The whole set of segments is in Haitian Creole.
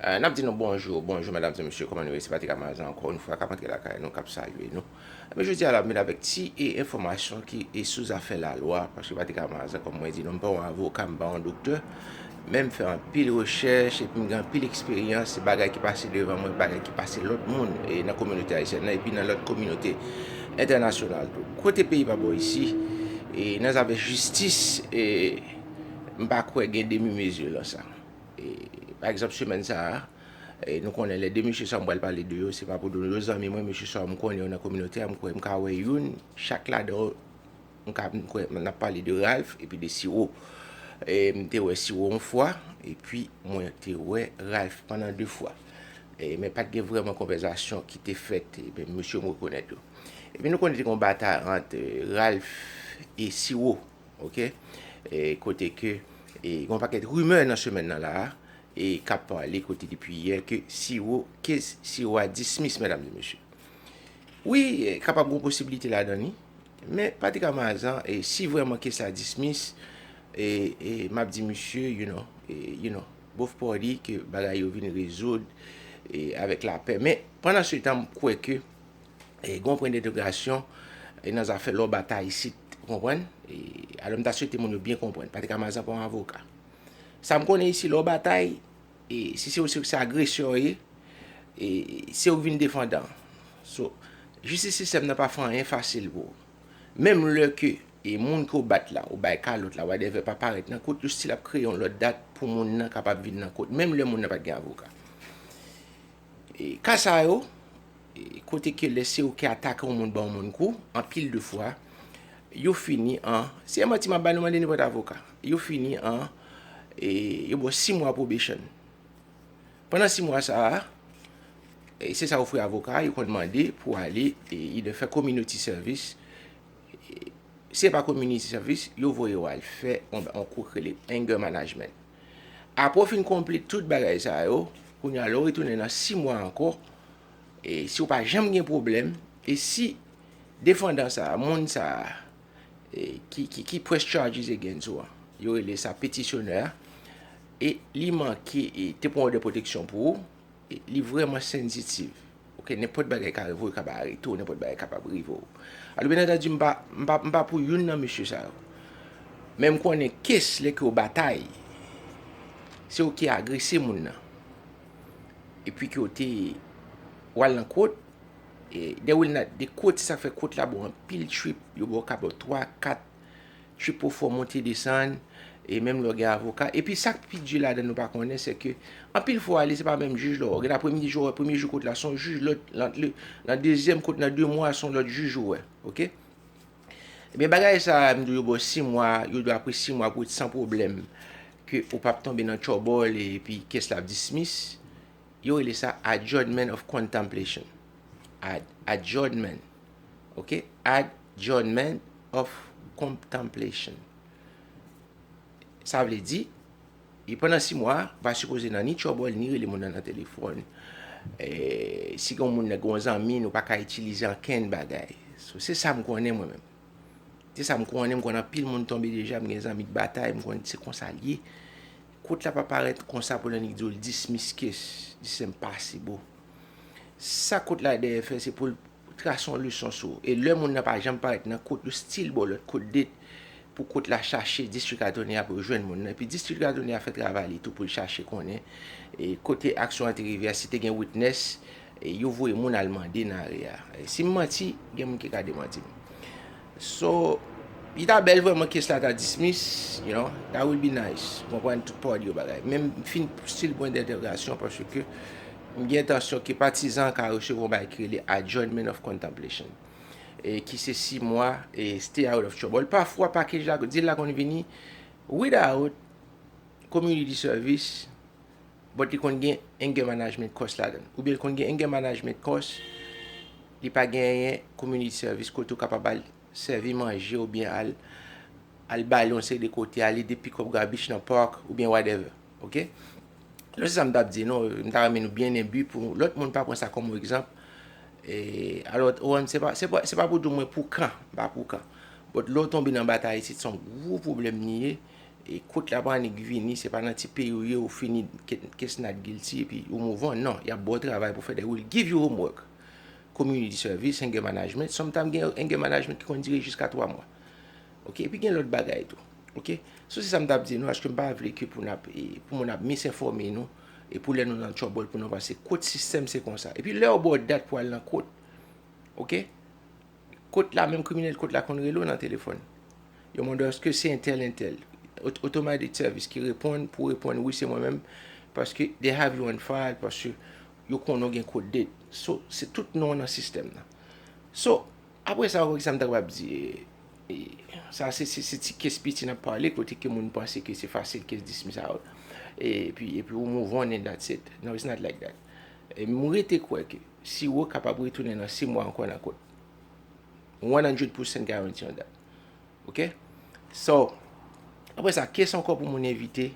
N ap di nou bonjou, bonjou medam e mesye kòman nou ye se Patrick Amazo ankò yon fwa k ap antre lakay nou k ap salye nou e men jodi a la m vin avèk ti e enfòmasyon ki e sou zafè lalwa paske Patrick Amazo kòm mwen di nou m pa yon avoka m pa yon doktè men m fè anpil rechèch epi m gen anpil eksperyans se bagay ki pase devan mwen bagay ki pase lòt moun e nan kominote ayisyèn nan epi nan lòt kominote entènasyonal tou kote peyi pa bon isi e nan zafè jistis e m pa kwè gen demi mezi lan sa. Pa egzanp semèn sa a, nou konnen lè 2 mesye sa a mwen pral pale de yo, se pa pou nou, yo zanmi mwen, mesye sa yo m konnen yo nan kominote a, m kwè m ka wè youn chak ladan yo, m ka, m kwè, n ap pale de Ralph epi de Siro. M te wè Siro yon fwa, epi mwen te wè Ralph pandan 2 fwa. Men pa t gen vrèman konvèzasyon ki te fèt, men mesye yo m rekonèt yo. Epi nou konnen te gen yon batay ant Ralph e Siro. ok e kote ke e gon pakèt rimè nan semèn nan la a e kap pale kote depi yè ke siwo ke siwo a dismiss medam e mesye wi kapab gon posibilite la dan ni men pati ka mazan e si vreman ke sa dismiss e e map di mesye you know e you know both party ke bagay yo vin rezoud e avèk lapè men pandan se tan m kwè ke gen yon pwen dentegrasyon nan zafè lò bata isit. Ou konprann? Alò m ta swete moun yo byen konprann. Patrick Amazan pa yon avoka. Sa m konnen isi, lè w batay, si se ou se agresè w ye, se ou ki vin defandan an. So, jistis sistèm nan pa fè anyen fasil pou ou. Menm lè ke moun ke w bat la, ou bay kalòt la, whatever, pa parèt nan kout, yo stil ap kreye yon lòt dat pou moun nan kapab vin nan kout, menm lè moun nan pa t gen avoka. Ka sa yo, kote ke lè se ou ki atake yon moun ban yon moun kou, anpil de fwa, yo fini an, se yon manti map bay nou mande nenpòt avoka, yo fini an, yo ba w 6 mwa probation. Pandan 6 mwa sa a, se sa yo ofri avoka a, yo konn mande pou ale either fè community service, si se pa community service, yo voye w al fè yon kou ki rele anger management. Apre w fin konpli tout bagay sa yo, kounye a lè w retounen nan 6 mwa ankò, e si w pa janm gen pwoblèm, e si defandan sa a, moun sa a, ki press charges against ou an, yo rele sa petisyonè a, e li manke, e te pran òdè pwoteksyon pou ou, Li vreman sensitive ok nenpot bagay ka rive w yo kab arete w nenpot bagay kapab rive w alo byen antandi m pa m pa m pa pou youn nan mesye sa yo men m konnen kes lè ke w batay se w ki agrese moun nan epi ke w te w al nan kot e dè w al nan kot se sa k fè kot la bon anpil trip yo ba w ka ba w 3 4 Trip pou fò monte desann, e menm lè w gen avoka. Epi sa k pi di ladan n nou pa konnen se ke anpil fwa w ale se pa menm jij la w wè. Gen apremidi jou w wè premye jou kote la se yon jij, lòt nan dezyèm kote nan 2 mwa se yon lòt jij ou wè. Ok. Ebyen bagay sa a m di w yo ba w 6 mwa, yo di w apre 6 mwa pou w ret san pwoblèm ke ou pap tonbe nan twòbòl epi kes la ap dismiss. Yo rele sa adjournment of contemplation. Ad, adjournment. Ok add journment of comptemplation sa vle di e pandan 6 mwa pa sipoze nan ni tchòbòl ni rele moun nan nan telefòn e si gen yon moun nan gen yon zanmi nou pa ka itilize ankenn bagay so se sa m konnen mwen menm se sa m konnen m konnen anpil moun tonbe deja m gen zanmi k batay m konnen se konsa l ye kot la pa parèt konsa pou l annik di w l dismiskes li se enpasibo. Sa kot la dèyè fè se pou l trase yon leson sou ou. E lè moun nan pa janm parèt nan kot, yo stil ba w lòt kot de pou kot la chache distrik atòni a pou yo jwenn moun nan. Epi distrik atòni a fè travay li tou pou l chache konnen kote aksyon an te rive a, si te gen witness, yo voye moun al mande nan aria. Si m manti, gen moun ki ka demanti m. So Li ta bèl vrèman case la ta dismiss you know that will be nice ou konprann tout party yo bagay men m fin pouse l pwen dentègrasyon paske m gen entansyon ke patizan an ka resevwa yon bagay ki rele adjournment of contemplation e ki se 6 mwa e stay out of trouble pafwa package la dil la konn vini without community service. but li konn gen anger management course ladann oubyen li konn gen anger management course li pa genyen community service kote ou kapab al sèvi manje oubyen al al bale yon seri de kote al ede pick up garbage nan park oubyen whatever ok non se sa m tap di non m ta renmen nou byen enbi pou lòt moun pa pran sa kòm yon egzanp e alò ou wè m se pa se pa se pa pou di w mwen pou kan m pa pou kan but lè w tonbe nan batay isit se yon gwo pwoblèm li ye. E kot la pa annik vini, se pa nan ti peyi ou ye ou fini kes not guilty epi ou move on non, yap baw travay pou fè they will give you homework, community service, anger management, sometime gen anger management ki konn dire jiska 3 mwa ok, epi gen lòt bagay tou ok, so se sa m tap di nou aske m pa vle ke pou nap pou moun ap misinfòme nou e pou lè nou nan trouble pou nou panse kot sistèm se konsa, epi lèw baw dat pou al nan kot ok. Kot la menm kriminèl kot la konn rele w nan telefòn. Yo mande w èske se entèl entèl. Otomatik sèvis ki reponn pou reponn wi se mwen menm paske they have you on file paske yo konnen w gen kot date. So se tout non nan sistèm nan. So apre sa ok sa m ta kapab di e sa se se ti kes piti n ap pale kote ke moun panse ke se fasil kes dismiss out epi epi ou move on and that's it. No it's not like that. E m rete kwè ke. Siwo kapab retounen nan 6 mwa ankò nan kont. 100 percent guarantee on that. Ok? So, apre sa, kes ankò pou moun evite?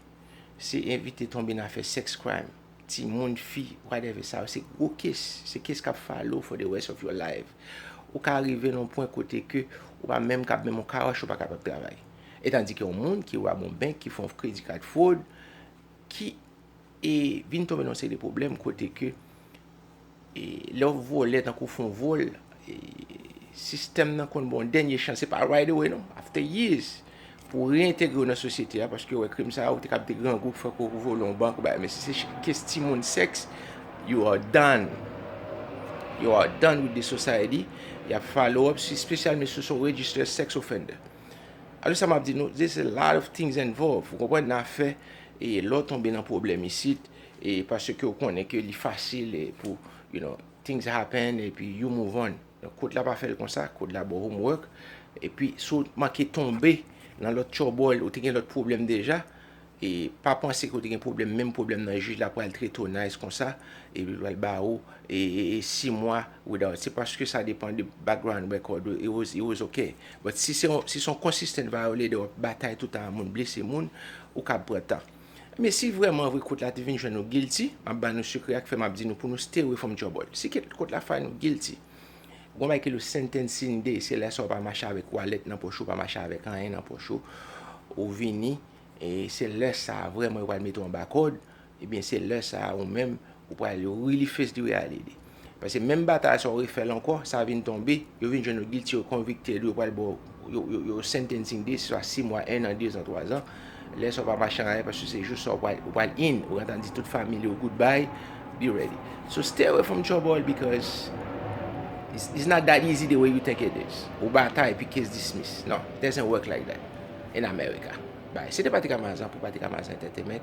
Se evite tonbe nan afè sex crime, ti moun, fi, whatever. Sa yo se gwo kes. Se kes kap follow for the rest of your life. Ou ka rive nan yon pwen kote ke ou pa menm kab, menm yon car wash ou pa kapab travay. Etandike yon moun ki rob yon bank, ki fè yon credit card fraud, ki. E vin tonbe nan yon seri de pwoblèm kote ke lè w vole tankou w fè yon vòl, sistèm nan konn ba w yon dènye chans. Se pa right away non, after years pou w reyentegre w nan sosyete a paske yo wè krim sa a, ou te kapab te grangou pou fè kò ou vole yon bank ou bagay men si se kes timoun sèks, you are done. You are done with the society. Y ap follow up espesyalman si w se yon registered sex offender. Alò sa m ap di nou, there's a lot of things involved, ou konprann, nan afè E lè w tonbe nan pwoblèm isit, e paske w konnen ke li fasil e pou, you know, things happen e pi you move on. Donk kod la pa fè l konsa, kod la ba w homework. E pi si w manke tonbe nan lòt tchòbòl, ou te gen lòt pwoblèm deja, e pa panse ke w te gen pwoblèm, menm pwoblèm nan jij la pral trete w nice konsa, e li pral ba ou e 6 mwa without. Se paske sa depan de background record ou, it was, it was ok. But si se yon si se yon consistent violator wap batay toutan a moun blese moun ou kab pran tan men si vrèman vre kot la te vin jwenn ou guilty map ba nou sekrè ak fè map di nou pou nou stay away from trouble si ket kot la fay nou guilty gon bagay ki rele sentencing day se lè sa ou pa mache avèk wallet nan poch ou pa mache avèk anyen nan poch ou ou vini e se lè sa vrèman yo pral mete w anba kòd Ebyen se lè sa a ou menm ou pral really face the reality. Paske menm batay sa ou refè l ankò, sa vin tonbe, yo vin jwenn ou guilty, yo convicted ou, yo pral ba w, yo sentencing de, swa 6 mwa, 1 an, 2 zan, 3 zan. Lè sa ou pa mache anrayè paske se jou sa ou pral, ou pral in, ou gentan di tout family ou goodbye, be ready. So stay away from trouble because it's not that easy the way you think it is. Ou batay epi case dismiss. Non, it doesn't work like that in America. Bye. Se te Patrick Amazan pou Patrick Amazan Entertainment.